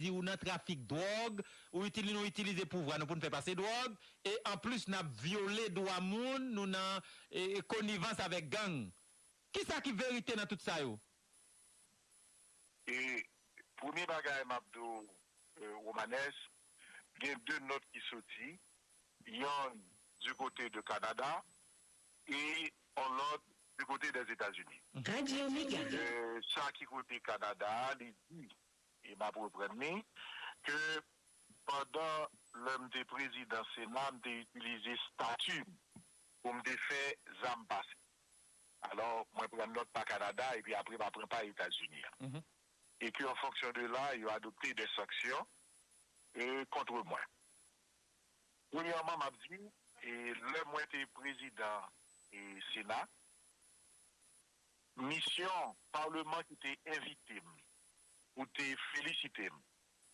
di ou nan trafik dwòg, ou itilize nou itilize pouvwa nou pou n fè pase dwòg, e anplis n ap vyole dwa moun, nou nan konivans avèk gang. Ki sa ki verite nan tout sa yo? E premye bagay m ap di w Romanes, gen de nòt ki soti, yonn di kote de Kanada e yon lòt di kote dèzetazini. E sa ki kote Kanada a, li di E m ap reprann li, ke pandan lè m te prezidan Sena, m te itilize stati m pou m te fè zam pase. Alò, mwen pran nòt pa Kanada epi apre m a pran pa Etazini an. E ke an fonksyon de la, yo adopte dè sanksyon kontre mwen. Premyèman, m ap di, lè mwen te prezidan Sena, Misyon Parleman ki te envite m pou te felisite m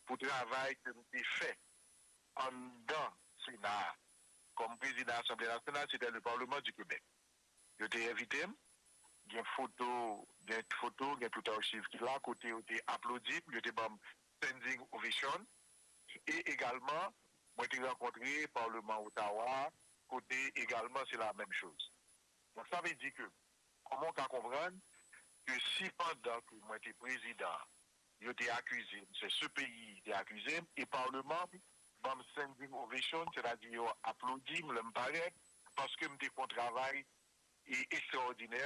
pou travay ke m te fè anndan Sena a kòm Prezidan Asanble Nasyonal, Secrétaire du Parlement du Québec. Yo te envite m, gen foto, gen foto, gen tout archiv ki la kote yo te aplodi m, yo te ban m standing ovation e egalman mwen te rankontre Parleman Ottawa kote egalman se la menm chose. Donk sa vle di ke kòman ou ka konprann ke si pandan ke mwen te prezidan yo te akize m, se CPI ki te akize m e parleman m ban m standing ovation, sètadi yo aplodi m lè m parèt paske m te fè yon travay ekstraòdinè,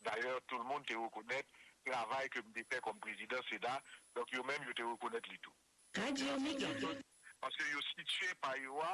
dayè tout moun te rekonèt travay ke m te fè kòm prezidan sena, donk yo menm yo te rekonèt li tou. Radyo Mega. Paske yo sitye pa yo a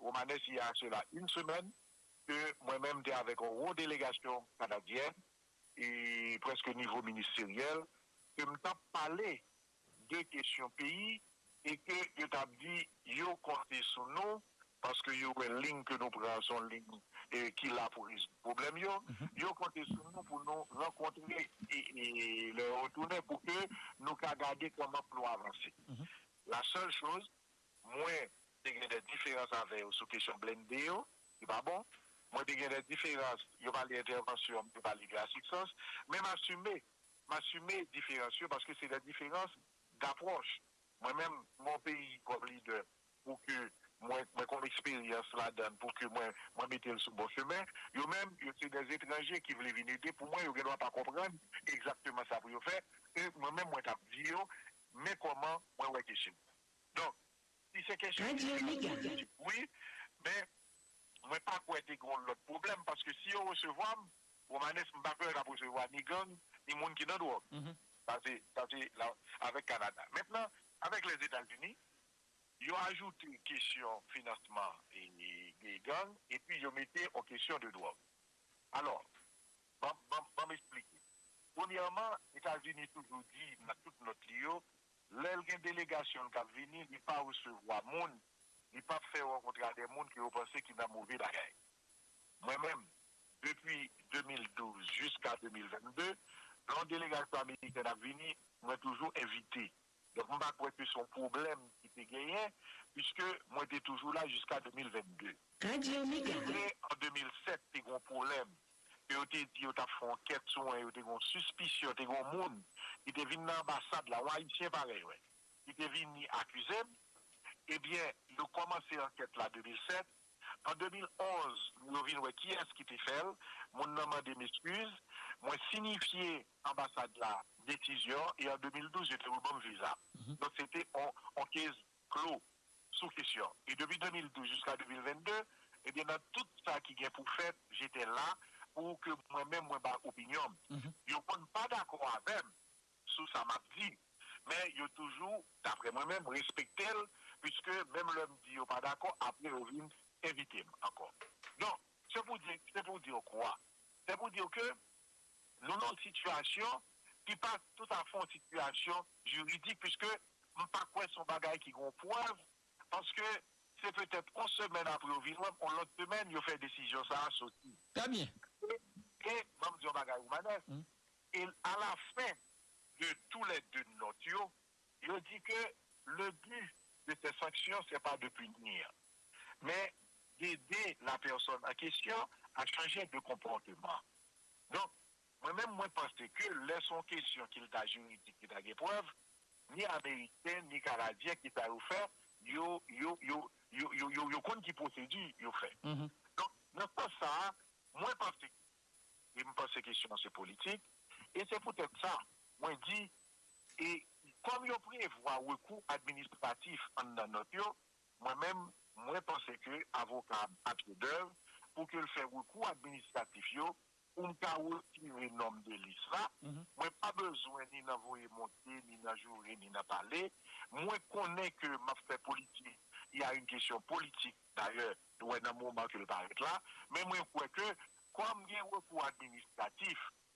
Romanè si a sela yn semèn ke mwen menm te avèk yon wo delegasyon kanadyen e prèske nivo ministeryèl ke m tap pale de kesyon peyi e ke yo tap di yo konte sou nou paske yo wè lign ke nou pran an se yon lign ki la pou rezoud pwoblèm yo, yo konte sou nou pou nou rankontre lè yo retounen pou ke nou ka gade kòman pou nou avanse. La sèl choz Mwen te gen dè diferans avè yo sou kesyon blende yo, li pa bon. Mwen te gen dè diferans, yo pale entèvansyon, mwen te pale de asiksans. Men m asime, m asime diferans yo paske se dè diferans dapwòch. Mwen menm, mwen yon peyi kòm lidè pou ke mwen, mwen konn eksperyans ladan l pou ke mwen, mwen mete l sou bon chemen. Yo menm, yo se dè etranje ki vle vin ede pou mwen, yo gen dwa pa konprann egzakteman sa pou yo fè. E mwen menm mwen t ap di yo, men kòman mwen wè kesyon. Donk, si se kesyon ki te yon politik wi, men mwen pa kwè te gen yon lòt pwoblèm paske si yo resevwa m, Romanes, m pa kwè yo t ap resevwa ni gang, ni moun ki nan dwòg. Sa se, sa se avèk Kanada. Mentnan, avèk Lèzetazini, yo ajoute kesyon finansman gang epi yo mete yon kesyon de dwòg. Alò, ban m esplike. Premyèman, Etazini toujou di nan tout nòt li yo Lèl gen delegasyon l kap vini li pa resevwa moun, li pap fè rankontre a dè moun ke yo panse ki nan move bagay. Mwen menm, depi 2012 jiska 2022, lè yon delegasyon amerikèn ap vini, mwen toujou envite. Donk m pa kwè ke se yon pwoblèm ki te genyen, piske mwen te toujou la jiska 2022. Radiomega. Se vre an 2007 te gen yon pwoblèm, ke yo te di yo tap fè yon kèt sou mwen, yo te gen yon sispisyon, te gen yon moun ki te vin nan anbasad la, yon ayisyen parèy mwen, ki te vini akize m, ebyen yo kòmanse ankèt la 2007, an 2011 yo vin wè kiyès ki te fè l, moun nan mande m eskiz, mwen sinifye anbasad la desizyon e an 2012 yo te reban m viza m. Donk se te yon case klo sou kesyon e depi 2012 jiska 2022 ebyen nan tout sa ki gen pou fèt j'étais là pou ke mwen menm mwen bay opinyon m yo konn pa dakò avè m sou sa map di men yo toujou daprè mwen menm respekte l puiske menm lè m di yo pa dakò aprè yo vin envite m ankò donk se pou di se pou di w kwa se pou di w ke Nou nan yon sitiyasyon ki pa tout afè yon sitiyasyon jiridik piske m pa kwè se yon bagay ki gen yon prèv paske se petèt yon semèn apre yo vin wè m, yon lòt semèn yo fè desizyon sa a soti. Trè byen. E ban m di yon bagay Romanès, e alafen de tou lè de nòt yo, yo di ke le but de ces sanctions c'est pas de punir. men ede lapèsòn an kesyon a chanje de konpòteman. Donk, mwen menm mwen panse ke lè son kesyon ki lta jiridik ki ta gen prèv, ni ameriken ni kanadyen ki sa yo fè, yo, yo, yo, yo, yo, yo, yo konn ki pwosedi yo fè. Donk, nan sans sa a, mwen panse ke, e m panse kesyon an se politik, e se poutèt sa mwen di, e kòm yo prevwa rekou administratif anndan nòt yo, Mwen menm, mwen panse ke avoka a ba pye dèv pou ke l fè rekou administratif yo pou m ka retire non m de lis la. Mwen pa bezwen ni nan voye monte, ni nan joure, ni nan pale. Mwen konnen ke m ap fè politik, y a une question politique dayè, nou wè nan moman ke l parèt la. Men mwen kwè ke kòm gen rekou administratif,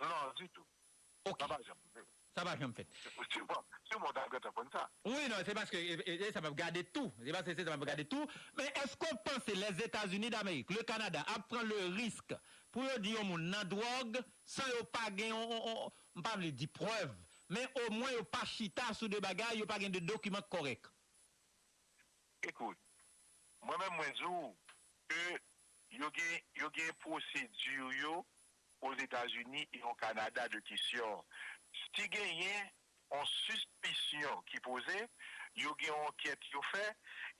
Non ditou. Ok. Sa pa janm rive. Sa pa janm fèt. Siw mò tap gentan konn sa. Wi non se paske e sa map gade tou. Se paske se sa map gade tou. Men eske w panse Lèzetazini Damerik, le Kanada ap pran le risk pou yo di yon moun nan dwòg san yo pa gen yon m pa vle di prèv men omwen yo pa chita sou de bagay, yo pa gen de dokiman k kòrèk? Ekout. Mwen menm mwen di w ke yo gen yo gen pwosedur yo Ozetazini e o Kanada de kesyon. Si genyen on sispisyon ki poze, yo gen on ankèt yo fè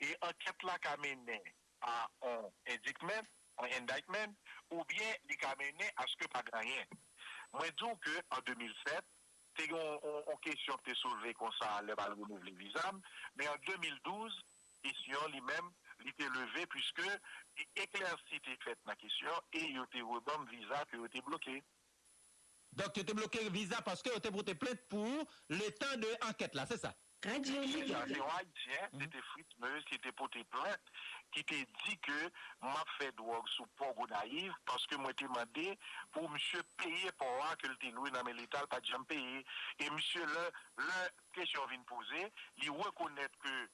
e ankèt la ka mennen a on endikmen, on indictment, oubyen li ka mennen aske pa gen anyen. Mwen di w ke an 2007, te gen on kesyon ki te soulve konsa lè m al renouvle viza m, men an 2012, Kesyon li menm li te leve puiske eklèsi te fèt nan kesyon e yo te reban m viza ke yo te bloke. Donk yo te bloke viza paske yo te pote plent pou ou le tan de ankèt la, se sa? Li di sa se yon ayisyen, se te Fritz Meuse ki te pote plent ki te di ke m ap fè dwòg sou pò Gonayiv paske mwen te mande pou misye peye pò a ke l te lwe nan men leta l pa t janm peye e misye lè lè kesyon vin poze li rekonèt ke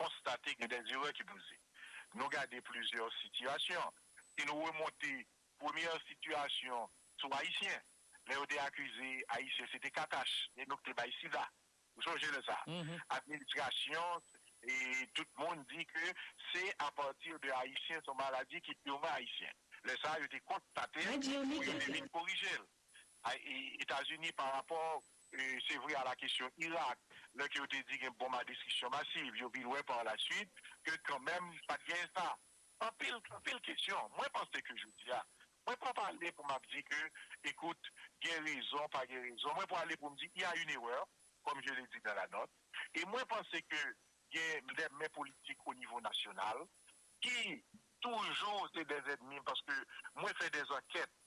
konstate gen dè erè ki poze. Nou gade plizyè sitiyasyon. Si nou remonte premyè sitiyasyon sou Ayisyen, lè yo te akize Ayisyen se te katach e nou ki te bay sida. Ou sonje lè sa a? Administrasyon e tout moun di ke se apati de Ayisyen, se yon maladi ki pirman Ayisyen. Lè sa a yo te konstate l e yo te vin korije l. Etazini pa rapò se vre a la kesyon Irak lè ke yo te di gen bonm a destriksyon masiv yo vin wè pa la suit ke kanmenm pa t gen sa. Anpil anpil kesyon. Mwen panse ke jodi a mwen pa pale pou m ap di ke ekout gen rezon pa gen rezon mwen pwale pou m di il y a une erreur comme je l'ai dit dans la note e mwen panse ke gen dè men politik o nivo nasyonal ki toujou se dè zèdmi paske mwen fè dè ankèt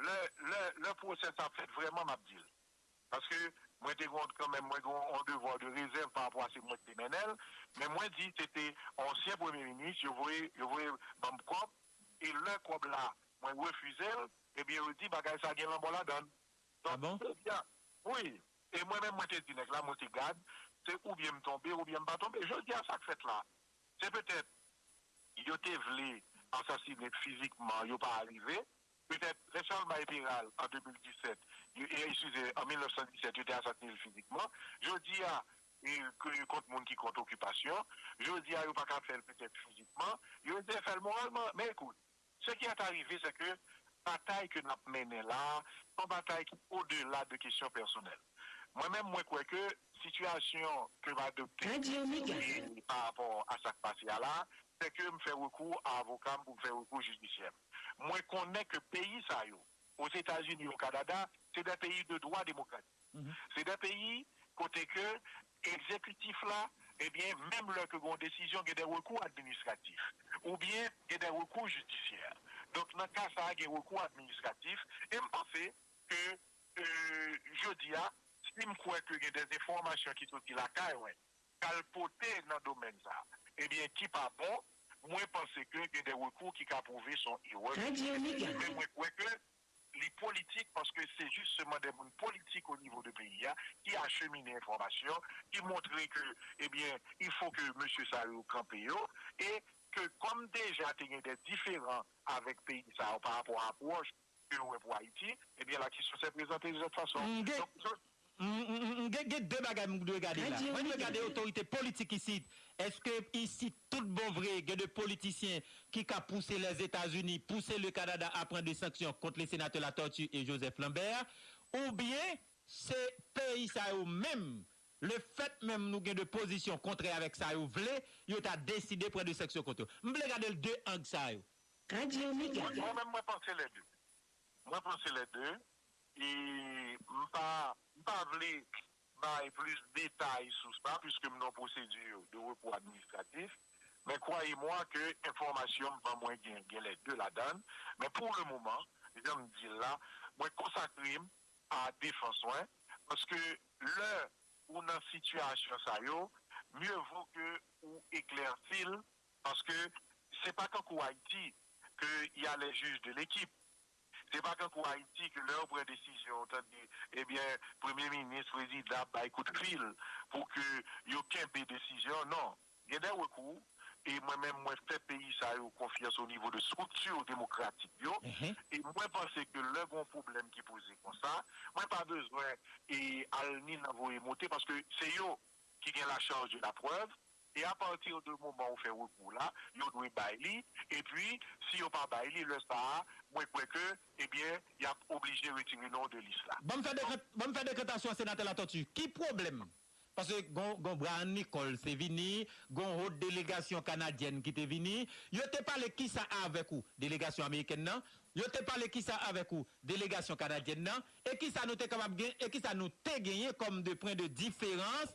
Lè, lè, lè pwosè sa ap fèt vrèman m ap di l. Paske, mwen te gon, kanmenm, mwen gon yon devoir de réserve pa rapò a se mwen ki te mennen l, men mwen di se te yon ansyen premye minis yo voye, yo voye ban m kòb, e lè kòb la mwen refize l, ebyen yo di bagay sa gen lanmò ladan l. Ah bon? Donk, jodi a, wi, e mwen menm mwen te di nèg la, mwen te gad, se oubyen m tonbe oubyen m pa tonbe. Jodi a sa k fèt la, se petèt yo te vle asasine fizikman, yo pa arive. Petèt, lè Charles bay Peral an 2017, yo, eskize, an 1917, yo te asasine l fizikman. Jodi a, ke yo kont moun ki kont okipasyon, jodi a yo pa ka fè l petèt fizikman, yo eseye fè l moralman. Men ekout, se ki est arive se ke batay ke n ap mennen la a, se yon batay ki odela de kesyon pèsonèl. Mwen menm, mwen kwè ke sitiyasyon ke m adopte parapò a sa k pase a la a, se ke m fè rekou a avoka m pou m fè rekou jidisyè m. Mwen konnen ke peyi sa yo, Ozetazini, o Kanada, se dè peyi de dwa demokratik. Se dè peyi kote ke ekzekitif la, ebyen, menm lè ke gen yon desizyon, gen dè rekou administratif, oubyen gen dè rekou jidisyè. Donk, nan ka sa a, gen rekou administratif. E m panse ke jodi a, si m kwè ke gen dè enfòmasyon ki soti lakay mwen, kalpote nan domèn sa ebyen ki pa bon mwen panse ke gen de rekou ki ka pwouve son erè men mwen kwè ke li politik paske se jis seman de moun politik o nivo de peyi a ki achemine enfòmasyon ki montre ke ebyen il fo ke mesye sa yo kanpe yo e ke kòm deja te gen de diferan avèk peyi sa yo pa rapò apwòch ke yo wè pou Ayiti, ebyen la kesyon se prezante yon lòt fason. M gen M gen gen 2 bagay m dwe gade la. Mwen dwe gade otorite politik isit. Eske isit tout bon vre gen de politisyen ki ka pouse Lèzetazini, pouse le Kanada a pran de sanksyon kont le Senatè Latortue e Joseph Lambert? Oubyen se peyi sa yo menm, le fèt menm nou gen de pozisyon kontrè avèk sa yo vle, yo ta deside pran de sanksyon kont yo? M vle gade l 2 ang sa yo. Radio Omega. Mwen menm mwen panse les deux. Mwen panse les deux e m pa m pa vle bay plis detay sou sa puiske m nan procedure de repos administratif men croyez moi ke enfòmasyon m ban mwen gen gen les deux ladann men pour le moment jan m di l la mwen konsakre m a defans mwen paske lè ou nan sitiyasyon sa yo mieux vaut ke ou eklèsi l Paske se pa tankou Ayiti ke y a les juges de l'équipe. Se pa tankou Ayiti ke lè yo pran desizyon ou tande ebyen premye minis, prezidan ap bay kout fil pou ke yo kenbe desizyon an. Non. Gen de rekou e mwen menm mwen fè peyi sa yo konfyans o nivo de structure demokratik yo e mwen panse ke lè gen yon pwoblèm ki poze konsa mwen pa bezwen e al ni nan voye monte paske se yo ki gen la charge de la preuve. E a partir de moman ou fè rekou w la, yo dwe bay li, epi si yo pa bay li, lè sa a, mwen kwè ke, ebyen, y ap oblije retire non w de lis la. Banm fè dekant, banm fè dekantasyon a Senatè Latòti. Ki pwoblèm? Paske gon, gon Bryan Nicole se vini, gon hot delegasyon kanadyèn ki te vini, yo te pale kisa avèk ou? Delegasyon amerikèn nan? Yo te pale kisa avèk ou? Delegasyon kanadyèn nan? E kisa nou te kapab gen, e kisa nou te genyen kòm de pwen de diferans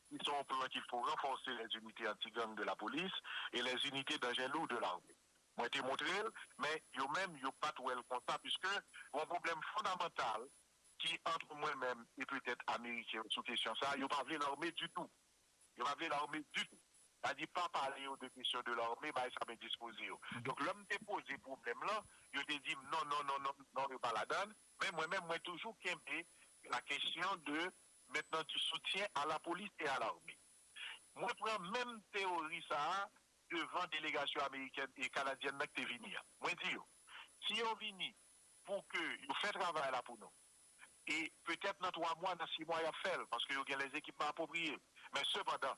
ki se yon plan ki pou ranfòse les unités anti-gang de la police et les unités d'engins lourds de l'armée. Mwen te montre l, men yo menm yo pa t wè l konsa piske yon pwoblèm fondamantal ki antre mwen menm e petèt ameriken yo sou kesyon sa a, yo pa vle larme ditou. Yo pa vle larme ditou. Sa di pa pale yo de kesyon de larme, bagay sa pa endispoze yo. Donk lè m te poze pwoblèm lan, yo te di m non, non, non, non, non, yo pa ladan l, men mwen menm mwen toujou kenbe la kesyon de met nan du soutien a la police et a l'armée mwen pran menm teori sa a devan delegasyon amerikèn e kanadyèn nan ki te vini an mwen di yo si yo vini pou ke yo fè travay la pou nou e petèt nan 3 mwa nan 6 mwa y ap fè l paske yo gen lè ekipman apwopriye men sepandan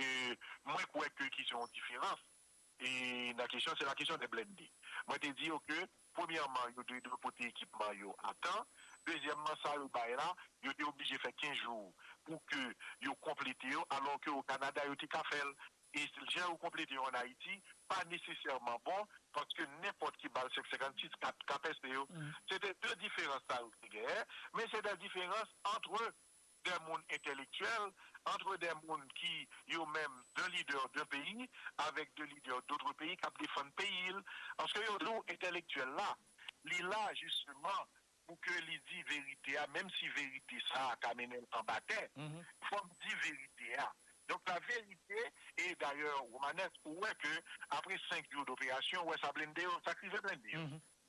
E mwen kwè ke ki se yon diferans e nan kesyon se la kesyon de blende. Mwen te di yo ke premyèman yo te dwe pote ekipman yo a tan, dezyèmman sa yo bay la yo te oblije fè 15 jou pou ke yo konplete yo alò ke o Kanada yo te ka fè l e jan yo konplete yo an Ayiti pa nesesèman bon paske nenpòt ki bal 5 56 ka pèse yo. Se te 2 diferans sa yo ki te genyen men se de diferans antre de moun entèlektyèl, antre de moun ki yo menm de lidè de peyi avèk de lidè dotre peyi k ap defann peyi l. Paske yo di w entèlektyèl la, li la jisteman pou ke li di verite a, menm si verite sa a ka mennen l anba tè, fò m di verite a. Donk la verite, e dayè Romanès ou wè ke apre 5 jou doperasyon ou wè sa blende yo, sa krize blende yo.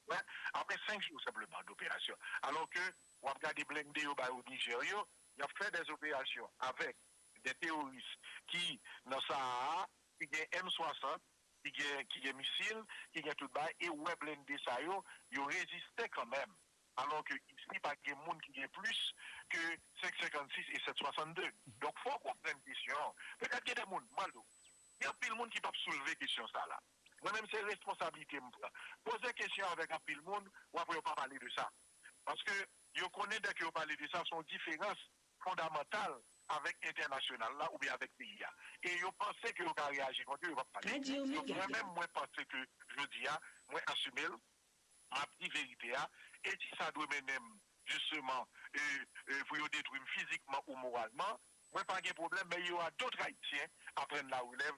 Ou wè? Apre 5 jou senpleman doperasyon. Alò ke Wap gade blende yo bay ou Niger yo, yap fè des opérations avec des terroristes ki nan Sahara a, ki gen M60, ki gen ki gen misil, ki gen tout bagay e ou wè blende sa yo, yo reziste kan menm. Alò ke isi pa gen moun ki gen plis ke 5 56 e 7 62. Donk fò ou konprann kesyon an. Petèt gen de moun, m pral di ou, gen anpil moun ki pap soulve kesyon sa la. Mwen menm se responsablite m pran. Poze kesyon avèk anpil moun, wap wè yo pa pale de sa. Paske yo konnen dèke yo pale de sa, se yon diferans fondamantal avèk entènasyonal la oubyen avèk peyi a. E yo panse ke yo ka reyaji kont yo, yo pa p pale. Donk mwen menm mwen panse ke jodi a, mwen asime l, m ap di verite a, e si sa dwe mennen m jisteman pou yo detwi m fizikman ou moralman, mwen pa gen pwoblèm, men il y aura d'autres Haïtiens à prendre la relève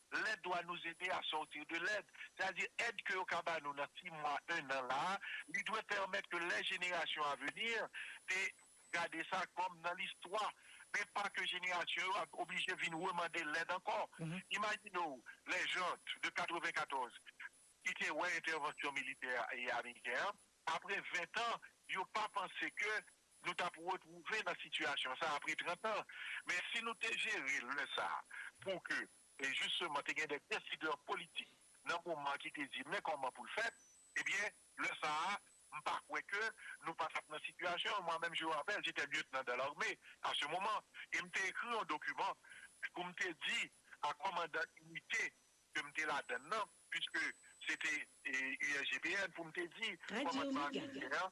Lèd doit nous aider à sortir de lèd, sètadi èd ke yo ka ba nou nan ti mwa, ennan la a, li dwe pèmèt ke lè jenerasyon a venir te gade sa kòm nan listwa, men pa ke jenerasyon yo ap oblije vin remande lèd ankò. Imajine w les gens de 94 ki te wè entèvansyon militè ameriken an, apre 20 tan, yo pa panse ke nou t ap retwouve nan sitiyasyon sa apre 30 an. Men si nou te jere lè sa pou ke jisteman te gen de desidè politik nan moman ki te di men kòman pou l fèt, ebyen lè sa a m pa kwè ke nou pa t ap nan sitiyasyon. Mwa menm je w rapèl jete lyetnan dan larme a se moman e m te ekri yon dokiman pou m te di a kòmandan inite ke m te ladann nan piske se te USGPN pou m te di kòmandman ameriken an.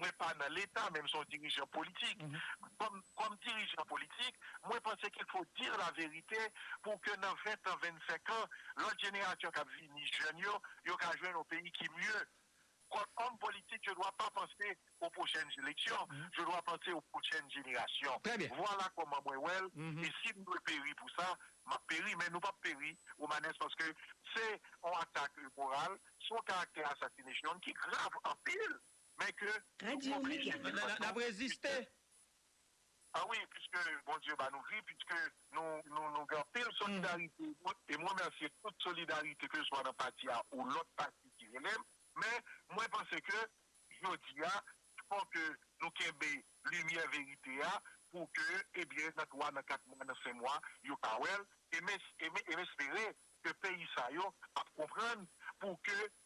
Mwen pa nan leta men m son dirijan politik. Kòm dirijan politik, mwen panse qu'il faut dire la vérité pou ke nan 20 tan, 25 an, lòt jenerasyon kap vini, jèn yo, yo ka jwenn yon peyi ki mye. Kòm òm politik, je dwa pa panse o pwochèn eleksyon, je dwa panse o pwochèn jenerasyon. Vwala kòman mwen wè l e si m dwe peri pou sa, map peri men nou pap peri Romanès paske se yon atak moral, se yon karaktè assassination ki grav anpil. men ke nou oblije de tout fason reziste. A wi, piske Bondye ba nou vi, piske nou gen anpil solidarite, e m remèsye tout solidarite keswa nan pati a ou lòt pati ki rele m, men mwen panse ke jodi a fò ke nou kenbe limyè verite a pou ke ebyen nan 3, nan 4 mwa, nan 5 mwa yo ka wè l, e m espere ke peyi sa yo ap konprann pou ke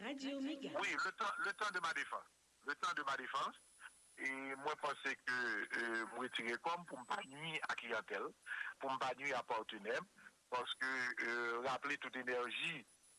Radio Mega. Wi le tan le tan de ma defans le tan de ma defans e mwen panse ke m retire kò m pou m pa nwi a kliyantèl pou m pa nwi a patenè m paske raple tout enèji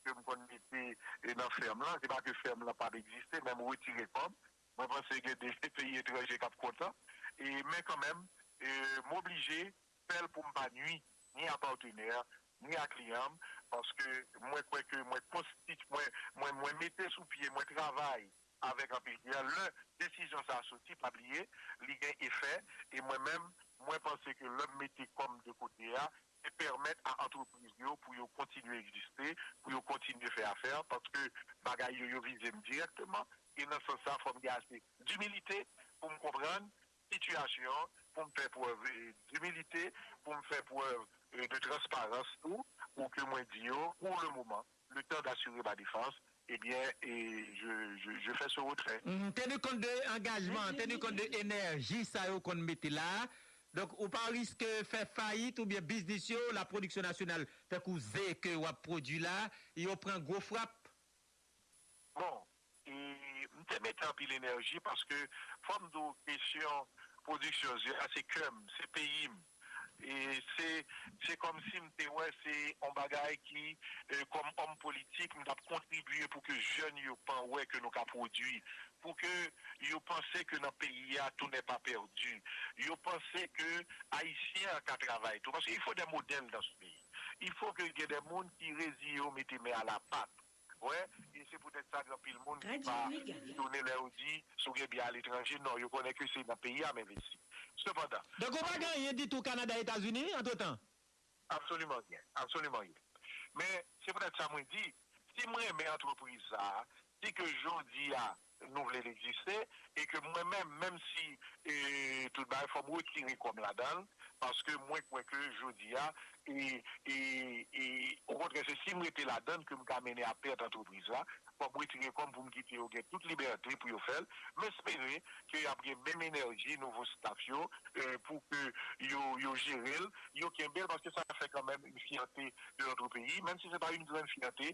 ke m konn mete nan fèm lan se pa ke fèm lan pa p egziste men m retire kò m mwen panse gen de peyi etranje k ap kontan e men kanmenm m oblije fè l pou m pa nwi ni a partenaire ni a client m paske mwen kwè ke mwen konstiti mwen mwen mete sou pye mwen travay avèk anpil client lè desizyon sa soti pa bliye li gen efè e mwen menm mwen panse ke lè m mete kò m de kote a se pèmèt a antrepriz yo pou yo kontinye egziste pou yo kontinye fè afè paske bagay yo yo vize m dirèkteman e nan sans sa fò m gen ase dimilite pou m konprann sitiyasyon, pou m fè prèv dimilite, pou m fè prèv de transparans tou, pou ke mwen di yo, pour le moment, le temps d'assurer ma défense, eh bien, je fais ce retrait. Tenu compte de angajman an, tenu compte de enèji sa yo konn mete la a, donk ou pa riske fè fayit oubyen biznis yo, la production nationale, tankou ze ke w ap pwodui la a, yo pran gwo frap? Bon e m te mete anpil enèji paske fò m di w kesyon pwodiksyon ze a se kè m, se peyi m e se se kòmsi m te wè se yon bagay ki kòm òm politik m t ap kontribye pou ke jèn yo pan wè ke nou ka pwodui pou ke yo panse ke nan peyi a tou nè pa pèdi yo panse ke ayisyen an ka travay tou paske il fo dè modèl dan se peyi il fo ke gen dè moun ki reziye yo mete men a la pat. Wè, e se poutèt sa gen anpil moun ki pa etone lè yo di si w gen byen aletranje, non, yo konnen ke se nan peyi a m envesti. Sepandan. Donk ou pa gen anyen ditou Kanada, Etazini, antretan? Absoliman gen. Absoliman gen. Men, se poutèt sa mwen di, si m renmen antrepriz sa a, si ke jodi a nou vle l egziste e ke mwen menm, menm si tout bagay fò m retire kò m ladan l paske mwen kwè ke jodi a okontrè se si m rete ladan l ke m ka mennen a pèt antrepriz la, fò m retire kò m pou m kite yo gen tout libète pou yo fè l. M espere ke y ap gen menm enèji nouvo staf yo pou ke yo jere l, yo kenbe l paske sa fè kanmenm yn fyète de notre peyi menm si se pa yn grann fyète.